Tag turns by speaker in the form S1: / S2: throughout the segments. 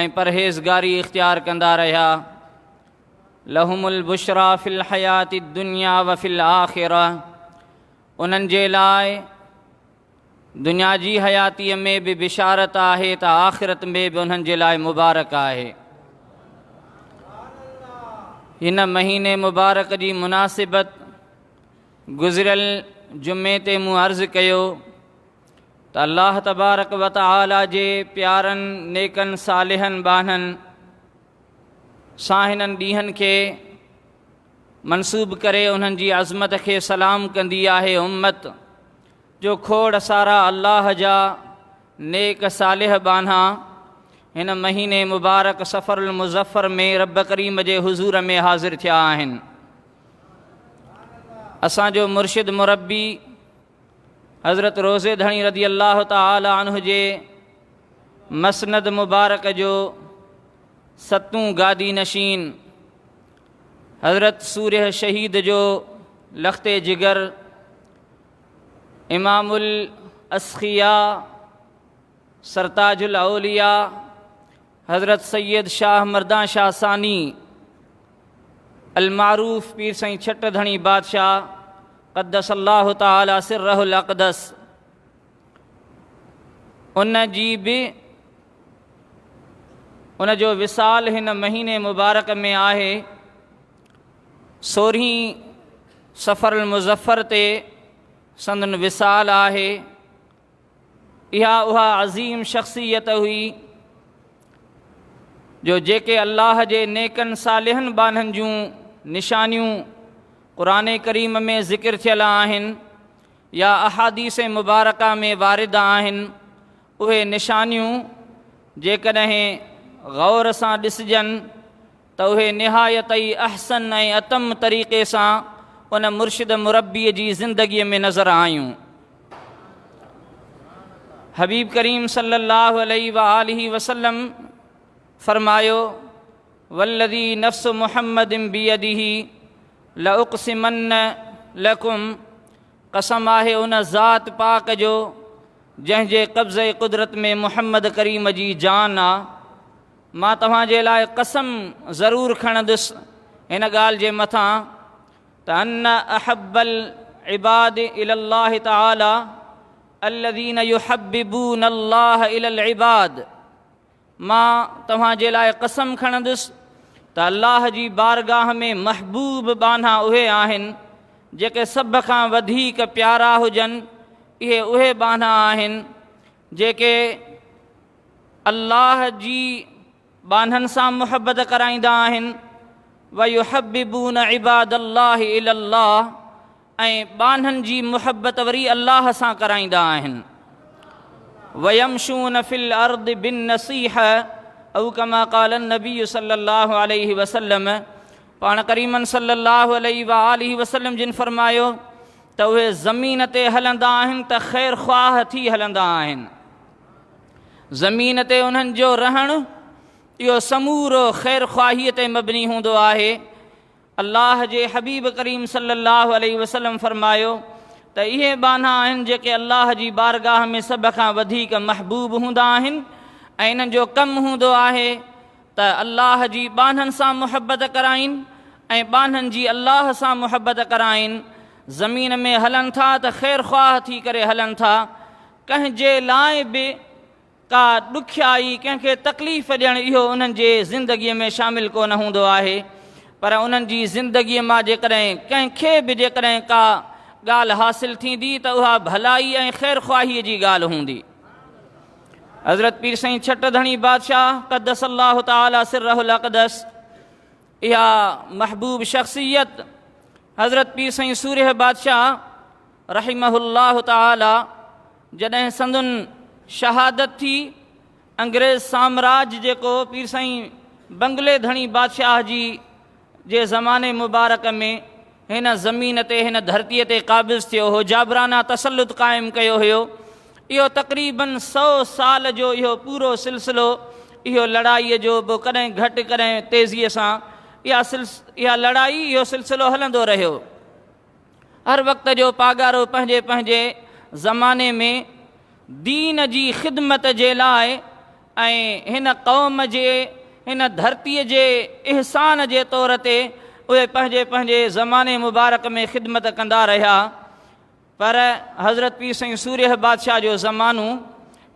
S1: ۽ پرهيزگاري اختيار ڪندا رهيا لهم البشرا في الحيات الدنيا وفي الاخره انهن جي لاء دنيا جي حياتي ۾ به بشارت آهي ته آخرت ۾ به انهن جي لاء مبارڪ آهي هن مهيني مبارڪ جي مناسبت گذريل جمعي تي مون عرض ڪيو ته الله تبارڪ و تعالي جي پيارن نيڪن صالحن ٻانهن سان هنن ڏينهن کي منسوب ڪري انهن جي عظمت کي سلام ڪندي آهي امت جو کوڙ سارا الله جا نيڪ صالح ٻانها هن مهيني مبارڪ سفر المظفر ۾ رب ڪريم جي حضور ۾ حاضر ٿيا آهن اسان جو مرشد مربي حضرت روضي ڌڻي رضي الله تعالٰي عنه جي مسند مبارڪ جو ستون گادي نشين حضرت سوريه شهيد جو لخت جگر امام الاسخيا سرتاج الاوليا حضرت سيد شاهه مردان شاهه ثاني المعروف پير سائين ڇٽ ڌڻي بادشاهه قدس الله تعالٰي سره الاقدس ان جي به ان جو وصال هن مهيني مبارڪ ۾ آهي سورهين سفر المظفر تي سندن وصال آهي اها اها عظيم شخصيت هئي جو جيڪي الله جي نيڪن صالحن ٻانهن جون نشانيون قرآن ڪريم ۾ ذڪر ٿيل آهن يا احاديث مبارڪه ۾ وارد آهن اهي نشانيون جيڪڏهن غور سان ڏسجن ته اهي نهايت ئي احسن ۽ اتم طريقي سان ان مرشد مربيء جي زندگيء ۾ نظر آيون. حبيب ڪريم صلّي اللّٰه عليه واٰله وسلّم فرمايو، والّذي نفس محمّد بيده لاقسمنّ لڪم، قسم آهي ان ذات پاڪ جو جنهن جي قبضه قدرت ۾ محمّد ڪريم جي جان آ، مان توهان جي لاء قسم ضرور کڻندس هن ڳالهه جي مٿان ته ان احب العباد الي الله تعالي الذين يحببون الله الي العباد مان توهان جي لاء قسم کڻندس ته الله جي بارگاهه ۾ محبوب ٻانها اهي آهن جيڪي سڀ کان وڌيڪ پيارا هجن اهي اهي ٻانها آهن جيڪي الله جي ٻانهن سان محبت ڪرائيندا آهن، ويحببون عباد الله الي الله ۽ ٻانهن جي محبت وري الله سان ڪرائيندا آهن. ويمشون في الارض بالنصيح او ڪما قال النبي صلي الله عليه وسلم پاڻ ڪريمن صلي الله عليه واٰله وسلم جن فرمايو ته اهي زمين تي هلندا آهن ته خير خواهه ٿي هلندا آهن. زمين تي انهن جو رهڻ اهو سمورو خير خواهي تي مبني هوندو آهي الله جي حبيب ڪريم صلي الله عليه وسلم فرمايو ته اهي ٻانها آهن جيڪي الله جي بارگاهه ۾ سڀ کان وڌيڪ محبوب هوندا آهن ۽ انهن جو ڪم هوندو آهي ته الله جي ٻانهن سان محبت ڪرائين ۽ ٻانهن جي الله سان محبت ڪرائين زمين ۾ هلن ٿا ته خير خواهه ٿي ڪري هلن ٿا ڪنهن جي لاء به ڪا ڏکيائي، ڪنهن کي تڪليف ڏيڻ اهو انهن جي زندگيء ۾ شامل ڪو نه هوندو آهي، پر انهن جي زندگيء مان جيڪڏهن ڪنهن کي به جيڪڏهن ڪا ڳالهه حاصل ٿيندي ته اها ڀلائي ۽ خيرخواهيء جي ڳالهه هوندي. حضرت پير سائين ڇٽ ڌڻي بادشاهه قدس الله تعالٰي سره الاقدس اها محبوب شخصيت حضرت پير سائين سورهيه بادشاهه رحمه الله تعاليٰ جڏهن سندن شهادت ٿي، انگريز سامراج جيڪو پير سائين بنگلي ڌڻي بادشاهه جي جي زماني مبارڪ ۾ هن زمين تي هن ڌرتي تي قابض ٿيو هو، جابرانه تسلط قائم ڪيو هيو، اهو تقريباً سؤ سال جو اهو پورو سلسلو اهو لڙائي جو به ڪڏهن گهٽ ڪڏهن تيزي سان اها اها لڙائي اهو سلسلو هلندو رهيو. هر وقت جو پاڳارو پنهنجي پنهنجي زماني ۾ دين جي خدمت جي لاء ۽ هن قوم جي هن ڌرتي جي احسان جي طور تي اهي پنهنجي پنهنجي زماني مبارڪ ۾ خدمت ڪندا رهيا پر حضرت پير سائين سوريه بادشاهه جو زمانو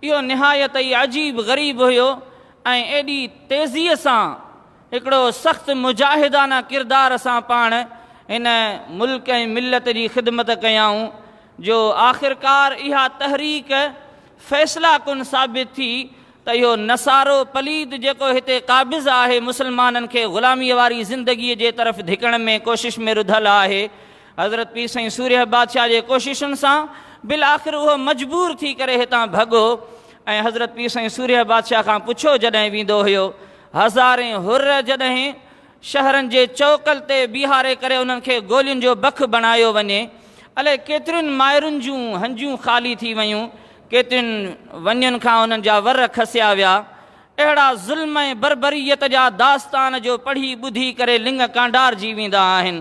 S1: اهو نهايت ئي عجيب غريب هيو ۽ ايڏي تيزيء سان هڪڙو سخت مجاهدانه ڪردار سان پاڻ هن ملڪ ۽ ملت جي خدمت ڪيائون جو آخرڪار اها تحريڪ فيصله ڪن ثابت ٿي ته اهو نصارو پليد جيڪو هتي قابض آهي مسلمانن کي غلاميء واري زندگيء جي طرف ڌڪڻ ۾ ڪوشش ۾ رڌل آهي حضرت پير سائين سورهيه بادشاهه جي ڪوششن سان بالآخر اهو مجبور ٿي ڪري هتان ڀڳو ۽ حضرت پير سائين سورهيه بادشاهه کان پڇيو جڏهن ويندو هيو هزارين حر جڏهن شهرن جي چؤڪل تي بيهاري ڪري انهن کي گولين جو بک بڻايو وڃي، الائي ڪيترين مائرن جون هنجون خالي ٿي ويون، ڪيترين وڃين کان انهن جا ور کسيا ويا. اهڙا ظلم ۽ بربريت جا داستان جو پڙهي ٻڌي ڪري لڱ ڪانڊارجي ويندا آهن.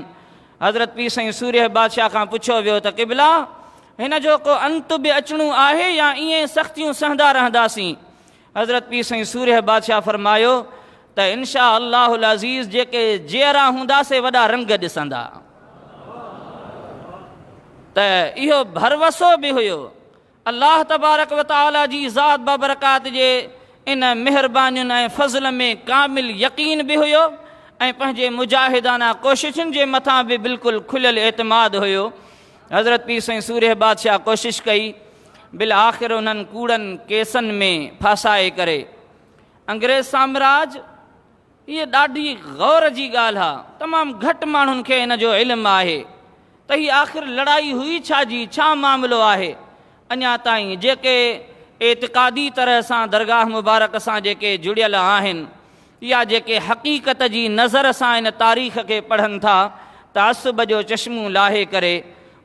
S1: حضرت پير سائين سورهيه بادشاهه کان پڇيو ويو ته قبلا! هن جو ڪو انت به اچڻو آهي يا ائين سختيون سهندا رهنداسين؟ حضرت پير سائين سورهيه بادشاهه فرمايو ته انشاء الله العزيز جيڪي جيئرا هوندا سي وڏا رنگ ڏسندا ته اهو ڀروسو به هيو الله تبارڪ و تعالي جي ذات بابرڪات جي ان مهربانين ۽ فضل ۾ ڪامل يقين به هيو ۽ پنهنجي مجاهدانه ڪوششن جي مٿان به بلڪل کليل اعتماد هيو حضرت پير سائين سورهيه بادشاهه ڪوشش ڪئي بالآخر انهن ڪوڙن ڪيسن ۾ ڦاسائي ڪري انگريز سامراج هيء ڏاڍي غور جي ڳالهه آ تمام گهٽ ماڻهن کي ان جو علم آهي ته هي آخر لڙائي هئي ڇا جي ڇا معاملو آهي اڃا تائين جيڪي اعتقادي طرح سان درگاهه مبارڪ سان جيڪي جڙيل آهن يا جيڪي حقيقت جي نظر سان ان تاريخ کي پڙهن ٿا تعصب جو چشمون لاهي ڪري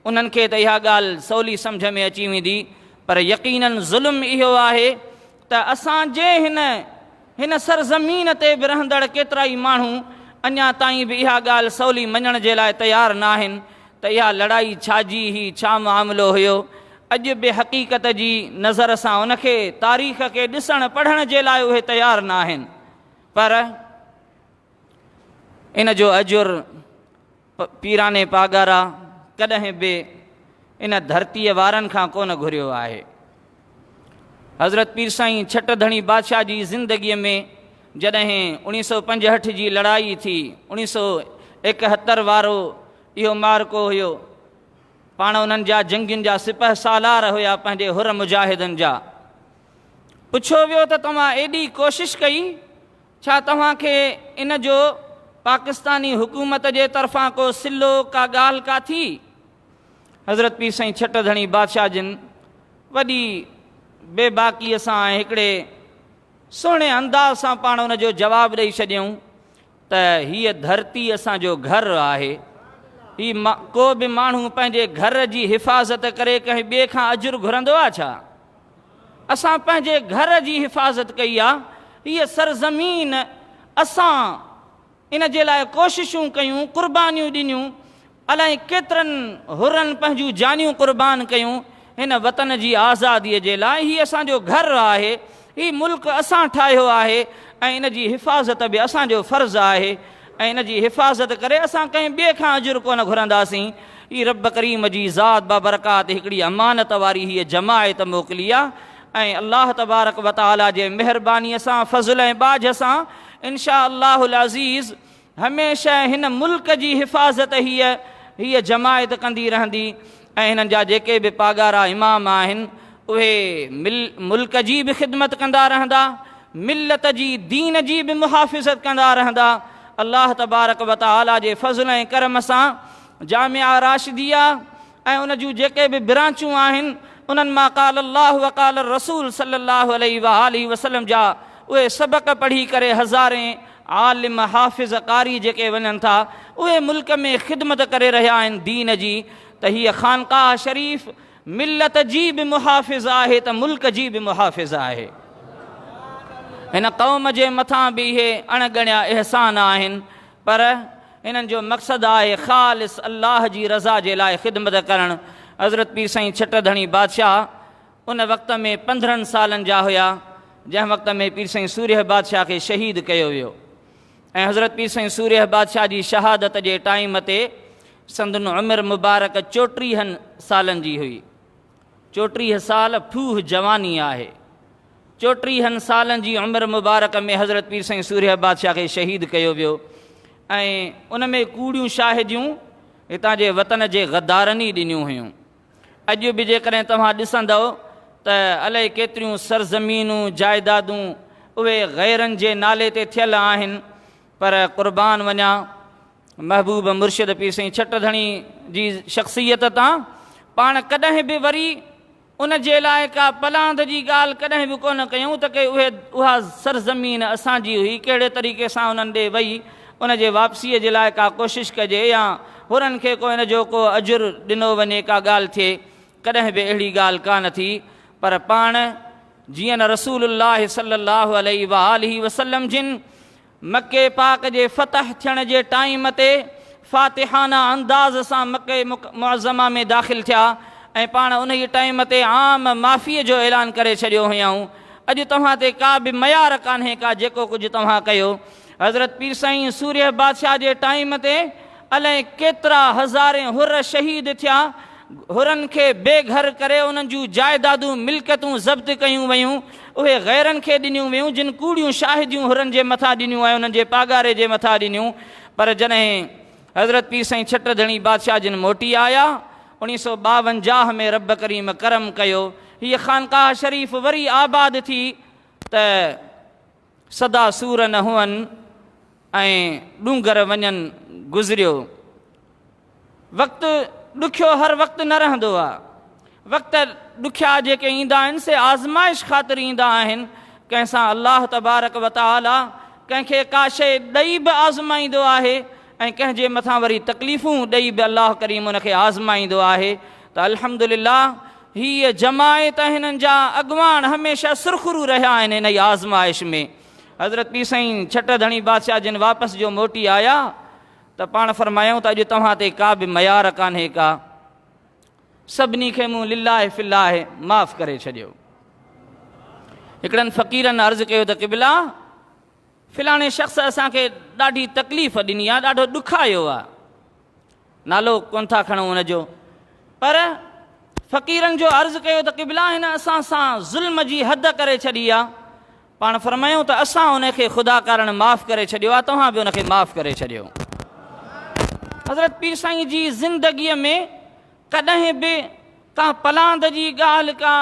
S1: انهن کي ته اها ڳالهه سولي سمجهه ۾ اچي ويندي پر يقينن ظلم اهو آهي ته اسان جي هن هن سرزمين تي به رهندڙ ڪيترائي ماڻهو اڃا تائين به اها ڳالهه سولي مڃڻ جي لاء تيار نه آهن ته اها لڙائي ڇا جي هي ڇا معاملو هيو اڄ به حقيقت جي نظر سان ان کي تاريخ کي ڏسڻ پڙهڻ جي لاء اهي تيار نه آهن پر ان جو اجر پيراڻي پاڳارا ڪڏهن به ان ڌرتيء وارن کان ڪونه گهريو آهي. حضرت پير سائين ڇٽ ڌڻي بادشاهه جي زندگيء ۾ جڏهن اوڻيهه سؤ پنجهٺ جي لڙائي ٿي، اوڻيهه سؤ ايڪهتر وارو اهو معرڪو هيو، پاڻ انهن جا جنگين جا سپهه سالار هيا پنهنجي حر مجاهدن جا. پڇيو ويو ته توهان ايڏي ڪوشش ڪئي، ڇا توهان کي ان جو پاڪستاني حڪومت جي طرفان ڪو صلو، ڪا ڳالهه ڪا ٿي؟ حضرت پير سائين ڇٽ ڌڻي بادشاهه جن وڏي بي باڪيء سان ۽ هڪڙي سهڻي انداز سان پاڻ ان جو جواب ڏئي ڇڏيائون ته هيء ڌرتي اسان جو گهر آهي. هي ڪو به ماڻهو پنهنجي گهر جي حفاظت ڪري ڪنهن ٻئي کان اجر گهرندو آ ڇا؟ اسان پنهنجي گهر جي حفاظت ڪئي آ، هيء سرزمين اسان ان جي لاء ڪوششون ڪيون، قربانيون ڏنيون، الائي ڪيترن حرن پنهنجون جانيون قربان ڪيون هن وطن جي آزاديء جي لاء، هي اسان جو گهر آهي، هي ملڪ اسان ٺاهيو آهي ۽ ان جي حفاظت به اسان جو فرض آهي، ۽ ان جي حفاظت ڪري اسان ڪنهن ٻئي کان اجر ڪونه گهرنداسين. هي رب ڪريم جي ذات بابرڪات هڪڙي امانت واري هيء جماعت موڪلي آ ۽ الله تبارڪ و تعاليٰ جي مهربانيء سان، فضل ۽ ٻاجهه سان انشاء الله العزيز هميشه هن ملڪ جي حفاظت هيء هيء جماعت ڪندي رهندي. ۽ هنن جا جيڪي به پاڳارا امام آهن اهي ملڪ جي به خدمت ڪندا رهندا ملت جي دين جي به محافظت ڪندا رهندا الله تبارڪ وتعالي جي فضل ۽ ڪرم سان جامعه راشديه ۽ ان جون جيڪي به برانچون آهن انهن مان قال الله وقال الرسول صلي الله عليه واٰله وسلم جا اهي سبق پڙهي ڪري هزارين عالم حافظ قاري جيڪي وڃن ٿا اهي ملڪ ۾ خدمت ڪري رهيا آهن دين جي ته هيء خانقاهه شريف ملت جي به محافظ آهي ته ملڪ جي به محافظ آهي هن قوم جي مٿان به اهي اڻ ڳڻيا احسان آهن پر انهن جو مقصد آهي خالص الله جي رضا جي لاء خدمت ڪرڻ حضرت پير سائين ڇٽ ڌڻي بادشاهه ان وقت ۾ پندرهن سالن جا هيا جنهن وقت ۾ پير سائين سورهيه بادشاهه کي شهيد ڪيو ويو ۽ حضرت پير سائين سورهيه بادشاهه جي شهادت جي ٽائيم تي سندن عمر مبارڪ چوٽيهن سالن جي هئي چوٽيهه سال ڦوهه جواني آهي چوٽيهن سالن جي عمر مبارڪ ۾ حضرت پير سائين سورهيه بادشاهه کي شهيد ڪيو ويو ۽ ان ۾ ڪوڙيون شاهديون هتان جي وطن جي غدارن ئي ڏنيون هيون اڄ به جيڪڏهن توهان ڏسندؤ ته الائي ڪيتريون سرزمينون، جائيدادون اهي غيرن جي نالي تي ٿيل آهن پر قربان وڃان محبوب مرشد پير سائين ڇٽ ڌڻي جي شخصيت تان پاڻ ڪڏهن به وري ان جي لاء ڪا پلاند جي ڳالهه ڪڏهن به ڪونه ڪيون ته ڪي اهي اها سرزمين اسان جي هئي ڪهڙي طريقي سان انهن ڏي وئي ان جي واپسيء جي لاء ڪا ڪوشش ڪجي يا هنن کي ڪو ان جو ڪو اجر ڏنو وڃي ڪا ڳالهه ٿئي ڪڏهن به اهڙي ڳالهه ڪا نه ٿي پر پاڻ جيئن نه رسول الله صلي الله عليه واٰله وسلم جن مڪي پاڪ جي فتح ٿيڻ جي ٽائيم تي فاتحانه انداز سان مڪي معظمه ۾ داخل ٿيا ۽ پاڻ انهي ٽائيم تي عام معافيء جو اعلان ڪري ڇڏيو هيائون اڄ توهان تي ڪا به ميار ڪانهي ڪا جيڪو ڪجهه توهان ڪيو حضرت پير سائين سورهيه بادشاهه جي ٽائيم تي الائي ڪيترا هزارين حر شهيد ٿيا، حرن کي بي گهر ڪري انهن جون جائدادون ملڪيتون ضبط ڪيون ويون، اهي غيرن کي ڏنيون ويون جن ڪوڙيون شاهديون حرن جي مٿان ڏنيون ۽ انهن جي پاڳاري جي مٿان ڏنيون پر جڏهن حضرت پير سائين ڇٽ ڌڻي بادشاهه جن موٽي آيا اوڻيهه سؤ ٻاونجاهه ۾ رب ڪريم ڪرم ڪيو هيء خانقاهه شريف وري آباد ٿي ته سدا سور نه هئن ۽ ڏونگر وڃن گذريو وقت ڏکيو هر وقت نه رهندو آ وقت ڏکيا جيڪي ايندا آهن سي آزمائش خاطر ايندا آهن ڪنهن سان الله تبارڪ وتعالي ڪنهن کي ڪا شئي ڏئي به آزمائيندو آهي ۽ ڪنهن جي مٿان وري تڪليفون ڏئي به الله ڪريم ان کي آزمائيندو آهي ته الحمد لله هيء جماعت ۽ هنن جا اڳواڻ هميشه سرخرو رهيا آهن انهيء آزمائش ۾ حضرت پير سائين ڇٽ ڌڻي بادشاهه جن واپس جو موٽي آيا ته پاڻ فرمايائون ته اڄ توهان تي ڪا به ميار ڪانهي ڪا سڀني کي مون لله في الله معاف ڪري ڇڏيو هڪڙن فقيرن عرض ڪيو ته قبلا فلاڻي شخص اسان کي ڏاڍي تڪليف ڏني آ، ڏاڍو ڏکايو آ. نالو ڪونه ٿا کڻون ان جو، پر فقيرن جو عرض ڪيو ته قبلا هن اسان سان ظلم جي حد ڪري ڇڏي آ، پاڻ فرمايائون ته اسان ان کي خدا ڪارڻ معاف ڪري ڇڏيو آ، توهان به ان کي معاف ڪري ڇڏيو. حضرت پير سائين جي زندگيء ۾ ڪڏهن به ڪا پلاند جي ڳالهه ڪا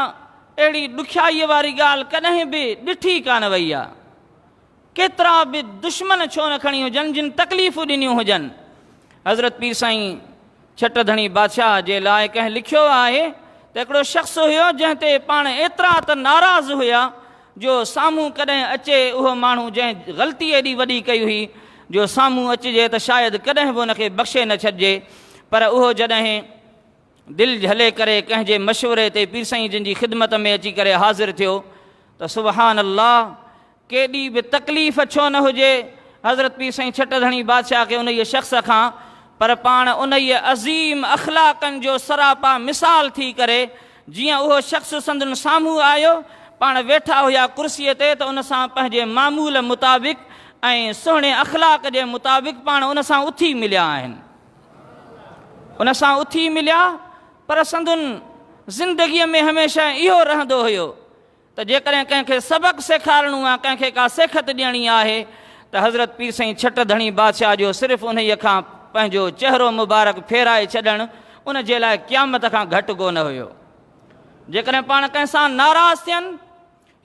S1: اهڙي ڏکيائيء واري ڳالهه ڪڏهن به ڏٺي ڪانه وئي آ. ڪيترا به دشمن ڇو نه کڻي هجن جن تڪليفون ڏنيون هجن. حضرت پير سائين ڇٽ ڌڻي بادشاهه جي لاء ڪنهن لکيو آهي ته هڪڙو شخص هيو جنهن تي پاڻ ايترا ته ناراض هيا جو سامهون ڪڏهن اچي اهو ماڻهو جنهن غلطي ايڏي وڏي ڪئي هئي جو سامهون اچجي ته شايد ڪڏهن به ان کي بخشي نه ڇڏجي پر اهو جڏهن دل جهلي ڪري ڪنهن جي مشوري تي پير سائين جن جي خدمت ۾ اچي ڪري حاضر ٿيو ته سبحان الله ڪيڏي به تڪليف ڇو نه هجي حضرت پير سائين ڇٽ ڌڻي بادشاهه کي انهيء شخص کان پر پاڻ انهيء عظيم اخلاقن جو سراپا مثال ٿي ڪري جيئن اهو شخص سندن سامهون آيو، پاڻ ويٺا هيا ڪرسيء تي ته ان سان پنهنجي معمول مطابق ۽ سهڻي اخلاق جي مطابق پاڻ ان سان اٿي مليا آهن. ان سان اٿي مليا پر سندن زندگيء ۾ هميشه اهو رهندو هيو ته جيڪڏهن ڪنهن کي سبق سيکارڻو يا ڪنهن کي ڪا سيکت ڏيڻي آهي ته حضرت پير سائين ڇٽ ڌڻي بادشاهه جو صرف انهيء کان پنهنجو چهرو مبارڪ ڦيرائي ڇڏڻ ان جي لاء قيامت کان گهٽ ڪو نه هيو. جيڪڏهن پاڻ ڪنهن سان ناراض ٿين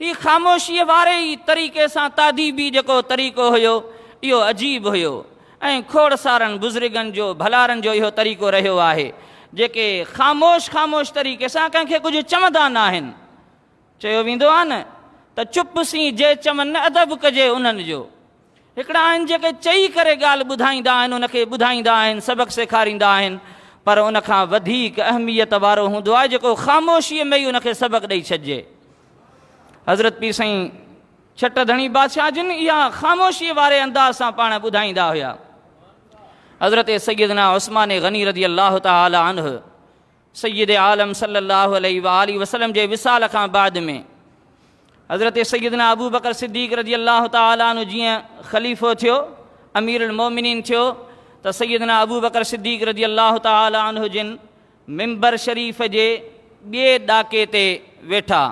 S1: هي خاموشيء واري ئي طريقي سان تاديبي جيڪو طريقو هيو اهو عجيب هيو ۽ کوڙ سارن بزرگن جو ڀلارن جو اهو طريقو رهيو آهي جيڪي خاموش خاموش طريقي سان ڪنهن کي ڪجهه چوندا ناهن. چيو ويندو آهي نه ته چپ سين جي چون نه ادب ڪجي انهن جو. هڪڙا آهن جيڪي چئي ڪري ڳالهه ٻڌائيندا آهن ان کي ٻڌائيندا آهن سبق سيکاريندا آهن پر ان کان وڌيڪ اهميت وارو هوندو آهي جيڪو خاموشيء ۾ ئي ان کي سبق ڏئي ڇڏجي. حضرت پير سائين ڇٽ ڌڻي بادشاهه جن اها خاموشيء واري انداز سان پاڻ ٻڌائيندا هيا. حضرت سيدنا عثمان غني رضي الله تعالٰي عنه سيد عالم صلّي اللّٰه عليه واٰله وسلّم جي وصال کان بعد ۾ حضرت سيدنا ابوبڪر صدّيق رضي اللّٰه تعالٰي عنه جيئن خليفو ٿيو، امير المؤمنين ٿيو ته سيدنا ابوبڪر صدّيق رضي اللّٰه تعالٰي عنه جن منبر شريف جي ٻئي ڏاڪي تي ويٺا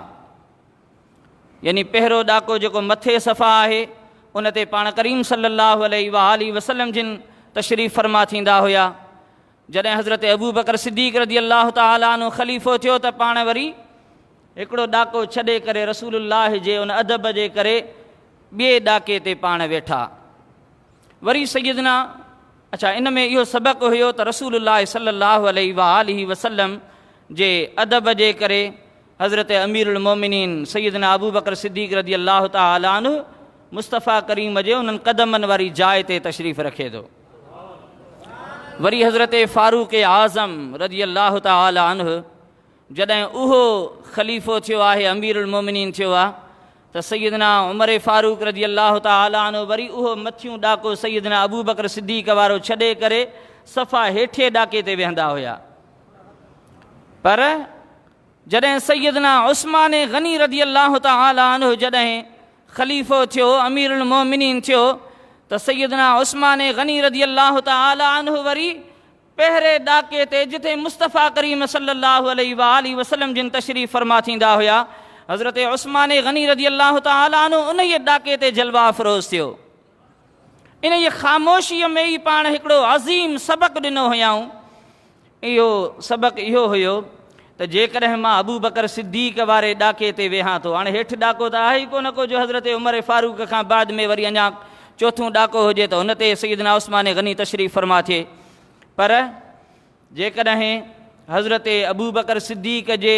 S1: يعني پهرو ڏاڪو جيڪو مٿي صفا آهي ان تي پاڻ ڪريم صلّي اللّٰه عليه واٰله وسلّم جن تشريف فرما ٿيندا هيا جڏهن حضرت ابوبڪر صديق رضي الله تعالٰي عنه خليفو ٿيو ته پاڻ وري هڪڙو ڏاڪو ڇڏي ڪري رسول الله جي ان ادب جي ڪري ٻئي ڏاڪي تي پاڻ ويٺا وري سيدنا اچھا ان ۾ اهو سبق هيو ته رسول الله صلي الله عليه وآله وسلم جي ادب جي ڪري حضرت امير المومنين سيدنا ابو بکر صديق رضي الله تعالٰي عنه مصطفيٰ ڪريم جي انهن قدمن واري جاء تي تشريف رکي ٿو وري حضرت فاروق اعظم رضي الله تعالٰي عنه جڏهن اهو خليفو ٿيو آهي امير المومنين ٿيو آهي ته سيدنا عمر فاروق رضي الله تعالٰي عنه وري اهو مٿيون ڏاڪو سيدنا ابو بڪر صديق وارو ڇڏي ڪري صفا هيٺي ڏاڪي تي ويهندا هيا پر جڏهن سيدنا عثمان غني رضي الله تعالٰي عنه جڏهن خليفو ٿيو، امير المؤمنين ٿيو، ته سيدنا عثمان غني رضي الله تعالٰي عنه وري پهرين ڏاڪي تي جتي مصطفيٰ ڪريم صلّي اللّٰه عليه واٰله وسلّم جن تشريف فرما ٿيندا هيا، حضرت عثمان غني رضي الله تعالٰي عنه انهيء ڏاڪي تي جلوه افروز ٿيو. انهيء خاموشيء ۾ ئي پاڻ هڪڙو عظيم سبق ڏنو هيائون. اهو سبق اهو هيو ته جيڪڏهن مان ابوبڪر صديق واري ڏاڪي تي ويهان ٿو، هاڻي هيٺ ڏاڪو ته آهي ئي ڪو نه ڪو، جو حضرت عمر فاروق کان بعد ۾ وري اڃا چوٿون ڏاڪو هجي ته ان تي سيدنا عثمان غني تشريف فرما ٿئي، پر جيڪڏهن حضرت ابوبڪر صديق جي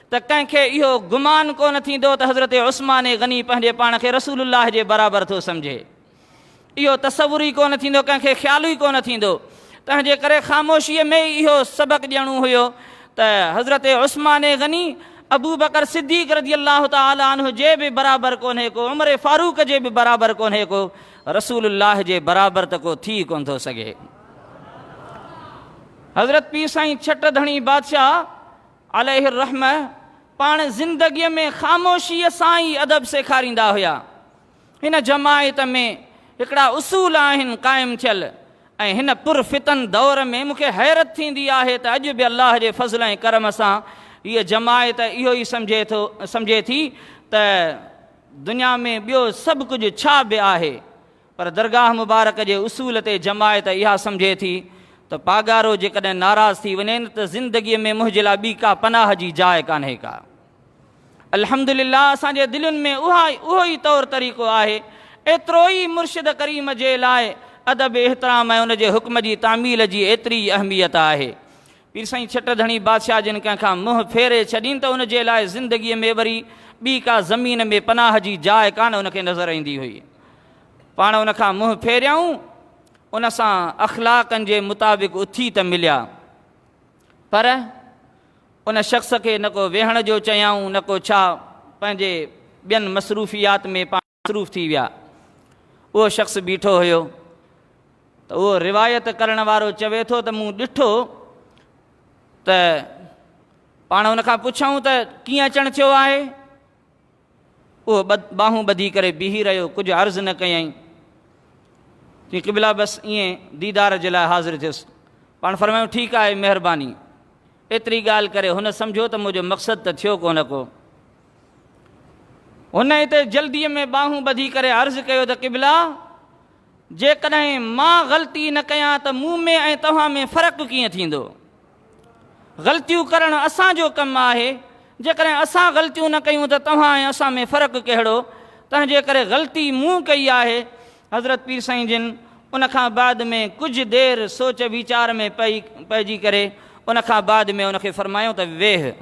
S1: ته ڪنهن کي اهو گمان ڪونه ٿيندو ته حضرت عثمان غني پنهنجي پاڻ کي رسول الله جي برابر ٿو سمجهي. اهو تصور ئي ڪونه ٿيندو، ڪنهن کي خيال ئي ڪونه ٿيندو. تنهنجي ڪري خاموشيء ۾ ئي اهو سبق ڏيڻو هيو ته حضرت عثمان غني ابوبڪر صديق رضي الله تعالٰي عنه جي به برابر ڪونهي ڪو، عمر فاروق جي به برابر ڪونهي ڪو، رسول الله جي برابر ته ڪو ٿي ئي ڪونه ٿو سگهي. حضرت پير سائين ڇٽ ڌڻي بادشاهه عليه الرحمة پاڻ زندگيء ۾ خاموشيء سان ئي ادب سيکاريندا هيا. هن جماعت ۾ هڪڙا اصول آهن قائم ٿيل ۽ هن پر فتن دور ۾ مون کي حيرت ٿيندي آهي ته اڄ به الله جي فضل ۽ ڪرم سان هيء جماعت اهو ئي سمجهي ٿو سمجهي ٿي ته دنيا ۾ ٻيو سڀ ڪجهه ڇا به آهي پر درگاهه مبارڪ جي اصول تي جماعت اها سمجهي ٿي ته پاڳارو جيڪڏهن ناراض ٿي وڃي نه ته زندگيء ۾ منهنجي لاء ٻي ڪا پناهه جي جاء ڪانهي ڪا. الحمدلله اسان جي دلين ۾ اها اهو ئي طور طريقو آهي. ايترو ئي مرشد ڪريم جي لاء ادب احترام ۽ ان جي حڪم جي تعميل جي ايتري ئي اهميت آهي. پير سائين ڇٽ ڌڻي بادشاهه جن ڪنهن کان منهن ڦيري ڇڏين ته ان جي لاء زندگيء ۾ وري ٻي ڪا زمين ۾ پناهه جي جاء ڪانه ان کي نظر ايندي هئي. پاڻ ان کان منهن ڦيريائون، ان سان اخلاقن جي مطابق اٿي ته مليا، پر ان شخص کي نه ڪو ويهڻ جو چيائون نه ڪو ڇا، پنهنجي ٻين مصروفيات ۾ پاڻ. مصروف ٿي ويا. اهو شخص بيٺو هيو ته اهو روايت ڪرڻ وارو چوي ٿو ته مون ڏٺو ته پاڻ ان کان پڇيائون ته ڪيئن اچڻ ٿيو آهي؟ اهو ٻانهون ٻڌي ڪري بيهي رهيو ڪجهه عرض نه ڪيائين. چي قبلا بس ائين ديدار جي لاء حاضر ٿيس. پاڻ فرمايو ٺيڪ آهي مهرباني. ايتري ڳالهه ڪري هن سمجهيو ته منهنجو مقصد ته ٿيو ڪونه ڪو. هن اتي جلديء ۾ ٻانهون ٻڌي ڪري عرض ڪيو ته قبلا! جيڪڏهن مان غلطي نه ڪيان ته مون ۾ ۽ توهان ۾ فرق ڪيئن ٿيندو؟ غلطيون ڪرڻ اسان جو ڪم آهي، جيڪڏهن اسان غلطيون نه ڪيون ته توهان ۽ اسان ۾ فرق ڪهڙو؟ تنهنجي ڪري غلطي مون ڪئي آهي. حضرت پير سائين جن ان کان بعد ۾ ڪجهه دير سوچ ويچار ۾ پئجي ڪري ان کان بعد ۾ ان کي فرمايو ته ويهه!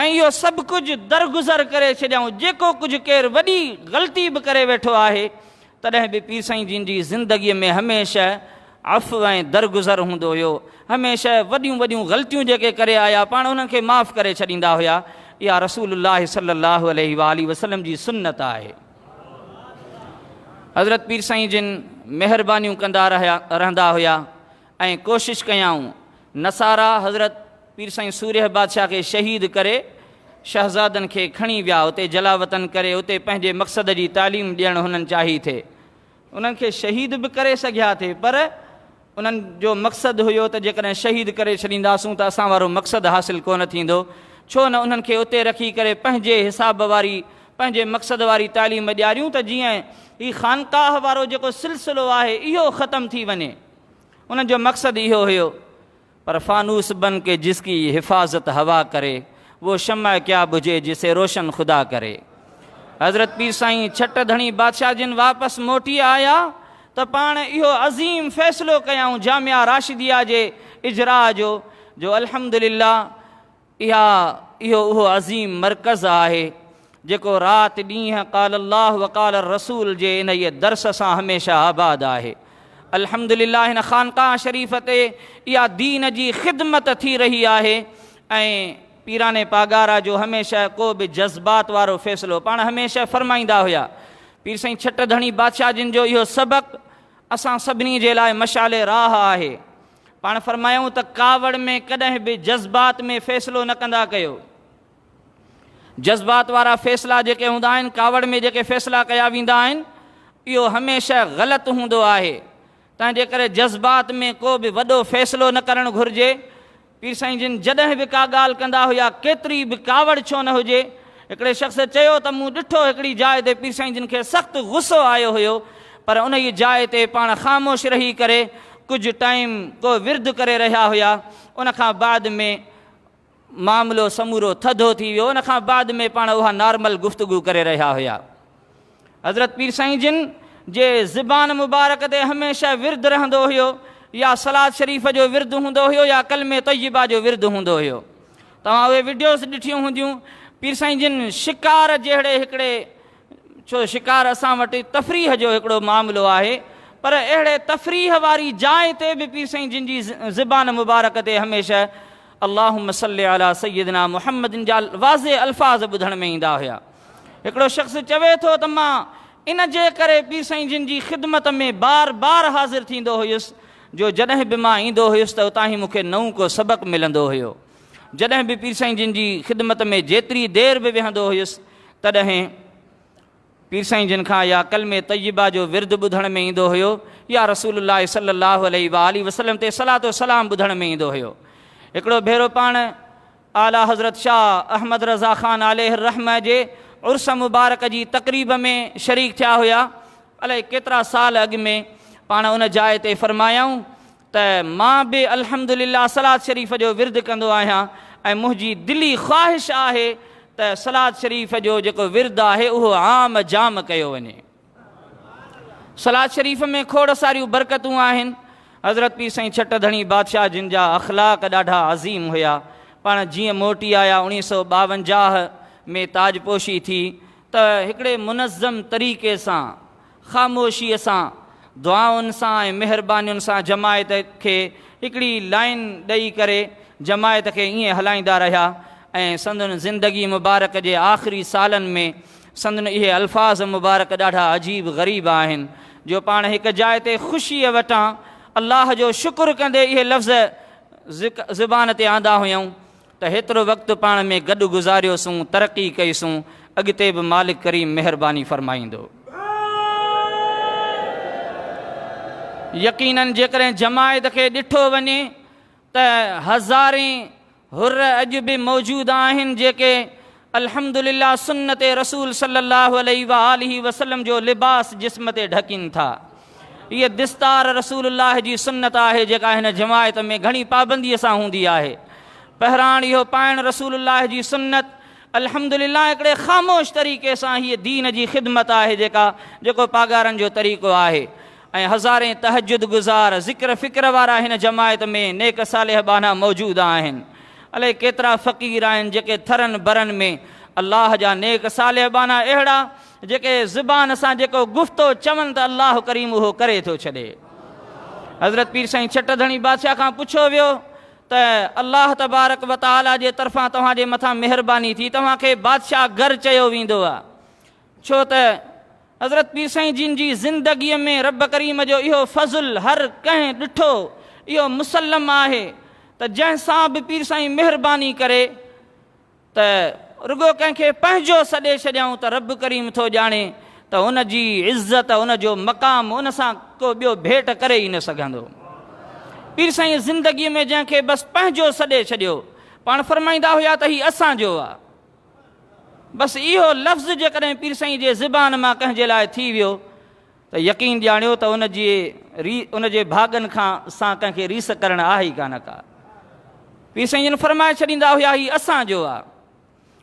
S1: ۽ اهو سڀ ڪجهه درگذر ڪري ڇڏيائون جيڪو ڪجهه ڪير وڏي غلطي به ڪري ويٺو آهي تڏهن به پير سائين جن جي زندگيء ۾ هميشه عفو ۽ درگذر هوندو هيو هميشه وڏيون وڏيون غلطيون جيڪي ڪري آيا پاڻ انهن کي معاف ڪري ڇڏيندا هيا اها رسول الله صلي الله عليه واٰله وسلم جي سنت آهي حضرت پير سائين جن مهربانيون ڪندا رهيا رهندا هيا ۽ ڪوشش ڪيائون. نصارا حضرت پير سائين سورهيه بادشاهه کي شهيد ڪري شهزادن کي کڻي ويا اتي جلاوطن ڪري اتي پنهنجي مقصد جي تعليم ڏيڻ هنن چاهي ٿي. انهن کي شهيد به ڪري سگهيا ٿي پر انهن جو مقصد هيو ته جيڪڏهن شهيد ڪري ڇڏينداسون ته اسان وارو مقصد حاصل ڪونه ٿيندو ڇو نه انهن کي اتي رکي ڪري پنهنجي حساب واري پنهنجي مقصد واري تعليم ڏياريون ته جيئن هي خانقاهه وارو جيڪو سلسلو آهي اهو ختم ٿي وڃي. انهن جو مقصد اهو هيو پر فانوس بن ڪي جس ڪي حفاظت هوا ڪري وو شمع ڪيا بجهي جسي روشن خدا ڪري حضرت پير سائين ڇٽ ڌڻي بادشاهه جن واپس موٽي آيا ته پاڻ اهو عظيم فيصلو ڪيائون جامعه راشديه جي اجراء جو جو الحمدلله اها اهو اهو عظيم مرڪز آهي جيڪو رات ڏينهن قال الله وقال الرسول جي انهيء درس سان هميشه آباد آهي. الحمدلله هن خانقاهه شريف تي اها دين جي خدمت ٿي رهي آهي ۽ پيران پاڳارا جو هميشه ڪو به جذبات وارو فيصلو پاڻ هميشه فرمائيندا هيا پير سائين ڇٽ ڌڻي بادشاهه جن جو اهو سبق اسان سڀني جي لاء مشعل راهه آهي. پاڻ فرمايائون ته ڪاوڙ ۾ ڪڏهن به جذبات ۾ فيصلو نه ڪندا ڪيو جذبات وارا فيصلا جيڪي هوندا آهن ڪاوڙ ۾ جيڪي فيصلا ڪيا ويندا آهن اهو هميشه غلط هوندو آهي تنهنجي ڪري جذبات ۾ ڪو به وڏو فيصلو نه ڪرڻ گهرجي پير سائين جن جڏهن به ڪا ڳالهه ڪندا هيا ڪيتري به ڪاوڙ ڇو نه هجي هڪڙي شخص چيو ته مون ڏٺو هڪڙي جاء تي پير سائين جن کي سخت غصو آيو هيو پر انهيء جاء تي پاڻ خاموش رهي ڪري ڪجهه ٽائيم ڪو ورد ڪري رهيا هيا ان کان بعد ۾ معاملو سمورو ٿڌو ٿي ويو ان کان بعد ۾ پاڻ اها نارمل گفتگو ڪري رهيا هيا. حضرت پير سائين جن جي زبان مبارڪ تي هميشه ورد رهندو هيو يا صلات شريف جو ورد هوندو هيو يا ڪلمه طيبه جو ورد هوندو هيو توهان اهي وڊيوز ڏٺيون هونديون پير سائين جن شڪار جهڙي هڪڙي ڇو شڪار اسان وٽ تفريح جو هڪڙو معاملو آهي پر اهڙي تفريح واري جاء تي به پير سائين جن جي زبان مبارڪ تي هميشه اللهم صل علي سيدنا محمد جا واضح الفاظ ٻڌڻ ۾ ايندا هيا هڪڙو شخص چوي ٿو ته مان ان جي ڪري پير سائين جن جي خدمت ۾ بار بار حاضر ٿيندو هيس جو جڏهن به مان ايندو هيس ته اتان هي مون کي نئون ڪو سبق ملندو هيو. جڏهن به پير سائين جن جي خدمت ۾ جيتري دير به ويهندو هيس تڏهن پير سائين جن کان يا ڪلمه طيبه جو ورد ٻڌڻ ۾ ايندو هيو يا رسول الله صلي الله عليه واٰله وسلم تي صلات و سلام ٻڌڻ ۾ ايندو هيو. هڪڙو ڀيرو پاڻ اعليٰ حضرت شاهه احمد رضا خان عليه الرحمة جي عرس مبارڪ جي تقريب ۾ شريڪ ٿيا هيا. الائي ڪيترا سال اڳ ۾ پاڻ ان جاء تي فرمايائون ته مان به الحمد لله صلات شريف جو ورد ڪندو آهيان ۽ منهنجي دلي خواهش آهي ته صلات شريف جو جيڪو ورد آهي اهو عام جام ڪيو وڃي. صلات شريف ۾ کوڙ ساريون برڪتون آهن. حضرت پير سائين ڇٽ ڌڻي بادشاهه جن جا اخلاق ڏاڍا عظيم هيا. پاڻ جيئن موٽي آيا اوڻيهه سؤ ٻاونجاهه ۾ تاج پوشي ٿي ته هڪڙي منظم طريقي سان خاموشيء سان دعائن سان ۽ مهربانين سان جماعت کي هڪڙي لائين ڏئي ڪري جماعت کي ائين هلائيندا رهيا ۽ سندن زندگي مبارڪ جي آخري سالن ۾ سندن اهي الفاظ مبارڪ ڏاڍا عجيب غريب آهن جو پاڻ هڪ جاء تي خوشيء وٽان الله جو شڪر ڪندي اهي لفظ زبان تي آندا هيائون ته هيترو وقت پاڻ ۾ گڏ گذاريوسون، ترقي ڪئيسون، اڳتي به مالڪ ڪريم مهرباني فرمائيندو. يقينن جيڪڏهن جماعت کي ڏٺو وڃي ته هزارين حر اڄ به موجود آهن جيڪي الحمدلله سنت رسول صلي الله عليه وآله وسلم جو لباس جسم تي ڍڪين ٿا. هيء دستار رسول الله جي سنت آهي جيڪا هن جماعت ۾ گهڻي پابنديء سان هوندي آهي. پهراڻ اهو پائڻ رسول الله جي سنت الحمدلله هڪڙي خاموش طريقي سان هيء دين جي خدمت آهي جيڪا جيڪو پاڳارن جو طريقو آهي. ۽ هزارين تهجد گذار ذڪر فڪر وارا هن جماعت ۾ نيڪ صالح ٻانها موجود آهن الائي ڪيترا فقير آهن جيڪي ٿرن برن ۾ الله جا نيڪ صالح ٻانها اهڙا جيڪي زبان سان جيڪو گفتو چون ته الله ڪريم اهو ڪري ٿو ڇڏي حضرت پير سائين ڇٽ ڌڻي بادشاهه کان پڇيو ويو ته الله تبارڪ وتعاليٰ جي طرفان توهان جي مٿان مهرباني ٿي توهان کي بادشاهه گهر چيو ويندو آهي ڇو ته حضرت پير سائين جن جي زندگيء ۾ رب ڪريم جو اهو فضل هر ڪنهن ڏٺو، اهو مسلم آهي ته جنهن سان به پير سائين مهرباني ڪري ته رڳو ڪنهن کي پنهنجو سڏي ڇڏيائون ته رب ڪريم ٿو ڄاڻي ته ان جي عزت ان جو مقام ان سان ڪو ٻيو ڀيٽ ڪري ئي نه سگهندو. پير سائين زندگيء ۾ جنهن کي بس پنهنجو سڏي ڇڏيو، پاڻ فرمائيندا هيا ته هي اسان جو آ. بس اهو لفظ جيڪڏهن پير سائين جي زبان مان ڪنهن جي لاء ٿي ويو ته يقين ڄاڻيو ته ان جي ري ان جي ڀاڳن کان سان ڪنهن کي ريس ڪرڻ آهي ئي ڪانه ڪا پير سائين جن فرمائي ڇڏيندا هيا هي اسان جو آ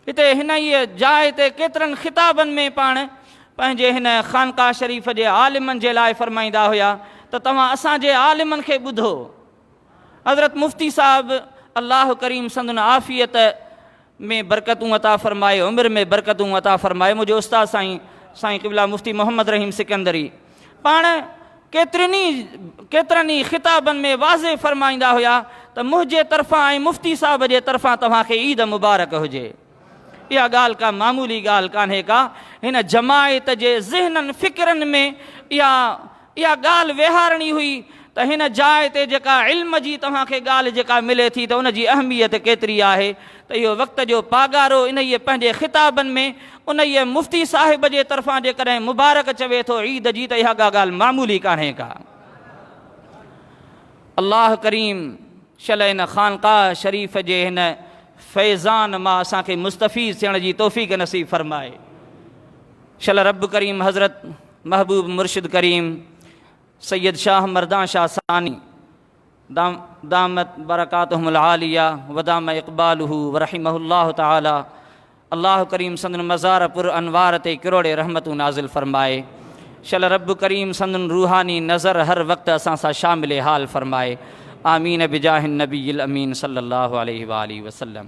S1: هتي هن ئي جاء تي ڪيترن خطابن ۾ پاڻ پنهنجي هن خانقاهه شريف جي عالمن جي لاء فرمائيندا هيا ته توهان اسان جي عالمن کي ٻڌو حضرت مفتي صاحب الله ڪريم سندن عافيت ۾ برڪتون عطا فرمائي عمر ۾ برڪتون عطا فرمائي منهنجي استاد سائين سائين قبله مفتي محمد رحيم سڪندري پاڻ ڪيترين ئي ڪيترن ئي خطابن ۾ واضح فرمائيندا هيا ته منهنجي طرفان ۽ مفتي صاحب جي طرفان توهان کي عيد مبارڪ هجي اها ڳالهه ڪا معمولي ڳالهه ڪانهي ڪا هن جماعت جي ذهنن فڪرن ۾ اها اها ڳالهه ويهارڻي هئي ته هن جاء تي جيڪا علم جي توهان کي ڳالهه جيڪا ملي ٿي ته ان جي اهميت ڪيتري آهي ته اهو وقت جو پاڳارو انهيء پنهنجي خطابن ۾ انهيء مفتي صاحب جي طرفان جيڪڏهن مبارڪ چوي ٿو عيد جي ته اها ڪا ڳالهه معمولي ڪانهي ڪا الله ڪريم شل ان خانقاه شريف جي هن فيضان مان اسان کي مستفيض ٿيڻ جي توفيق نصيب فرمائي شل رب ڪريم حضرت محبوب مرشد ڪريم سيد شاھ مردان شاھ ثاني دامت برڪاتهم العاليه ودام اقباله ورحمه الله تعالي الله ڪريم سندن مزار پر انوار تي ڪروڙي رحمتون نازل فرمائي شل رب ڪريم سندن روحاني نظر هر وقت اسان سان شامل حال فرمائي آمين بجاه النبي الامين صلي الله عليه واله وسلم.